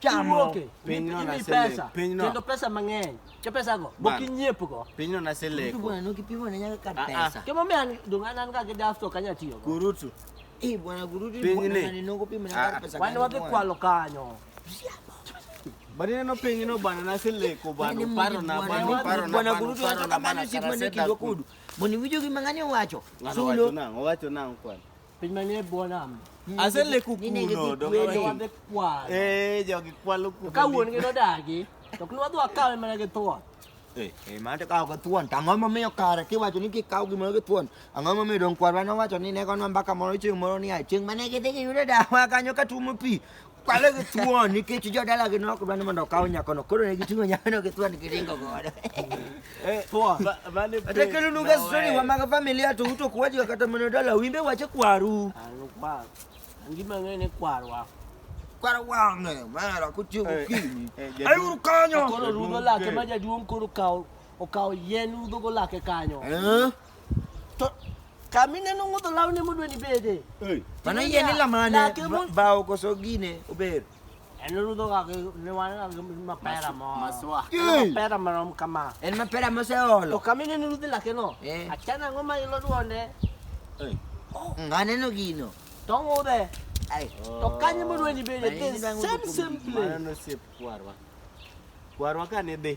kiwuoke imi pesa kendo pesa mang'eny ke pesago mokinyiepugo pinyno naseleko ah, ah. kimomiyo an dong' an an ga gi dafto kanya tiyogo kurutu eh, pinyni ah, wan wadhi kwalo kanyo Bani neno piny no bana na sileko bana paro na bana paro na bana kudu tu ato kamano siku ane kido kudu. Moni wijo ki mangani wacho. Sulo. Wacho na wacho na kwan. Piny manie e bwo nam. Ase leku Nine gi kuno. dok- Wende wadhi kwalo. Eh, jogi kwalo kuno. Ka wuon gi nodagi, to ok nwadhi wakawe mana gi thuon. Eh, eh, mano to kawo gi thuon. To ang'o momiyo kare kiwacho ni kikawo gimoro gi thuon? Ang'o momiyo dong kwarwa nowacho ni ne gonwa mbaka moro chieng' moro ni a chieng' mane gidhi giyudo dawa kanyo ka tuomo pi. Kwalo gi thuon nikech jodalagi ne ok dwa ni mondo okaw nyakono, koro ne giting'o nyakono gi thuon giringo godo. Thuon. Kata kelonwaga story wa mag familia to uto kwajiga kata mana dala wimbe wache kwaru. Ngima ng'e ni kwarwa. Kwaro wang'e, mara kotiyo gokinyi. Ayuru kanyo. Koro rudo lake ma jaduong' koro kawo okawo yien udhogo lake kanyo. Eh? To kamine no ngudho lawne modwa ni bede. Ei. Mano yie ni lamane Lake mo- ba- bao koso gine ober. En rudho ga gi ne wan ga gi mapera mo. Maswa. Ei. Mapera marom kama. En mapera To moseolo. kamine no rudhi lake no. Eh. Achana ang'o ma ilo duonde. Ei. Mm, Aneno gino. To ngudhe. Ai. To kanye modwa ni bede. Mano The inyalo same ng'udho same kuom- Mano place. nosep kwarwa. Kwarwa ka ne dhi.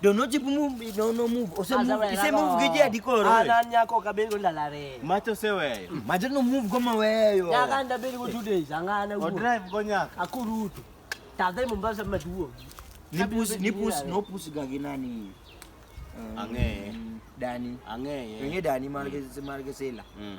Don't know jibu move, no no move. Ose Aza move, wena ise no. move giji adikoro. Ah, nani yako kabeli ndala re. Macho se wewe. Macho no move goma weyo. Nyaka ndabeli ku two days angana O uwo. drive go nyaka. Akurutu. Tadhe Mombasa maduo. Ni pusi, ni pusi, no pusi gagi nani. Um, Ang'eye. Dani. Ang'eye. Wenye Dani marge marge sela. Mm.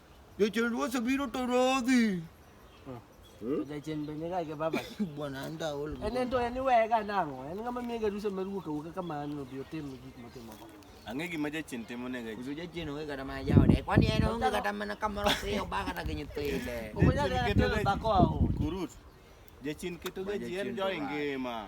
Jachien ruoth obiro to rodhi. Hmm? Jachien be niga gi baba. Bwana anda ol. En en to en iwega nang'o? En ng'ama miye garusa mar wuok awuoka kamano obi otim gik motimo go. Ang'e gima jachien timo ne gachi. Kudu jachien onge kata mana jaode. Kwani en onge kata mana kamoro piyo ba kata gi nyithinde. Okonya kata telo dhako aho. Kurut. Jachien keto gachi en jo ingima.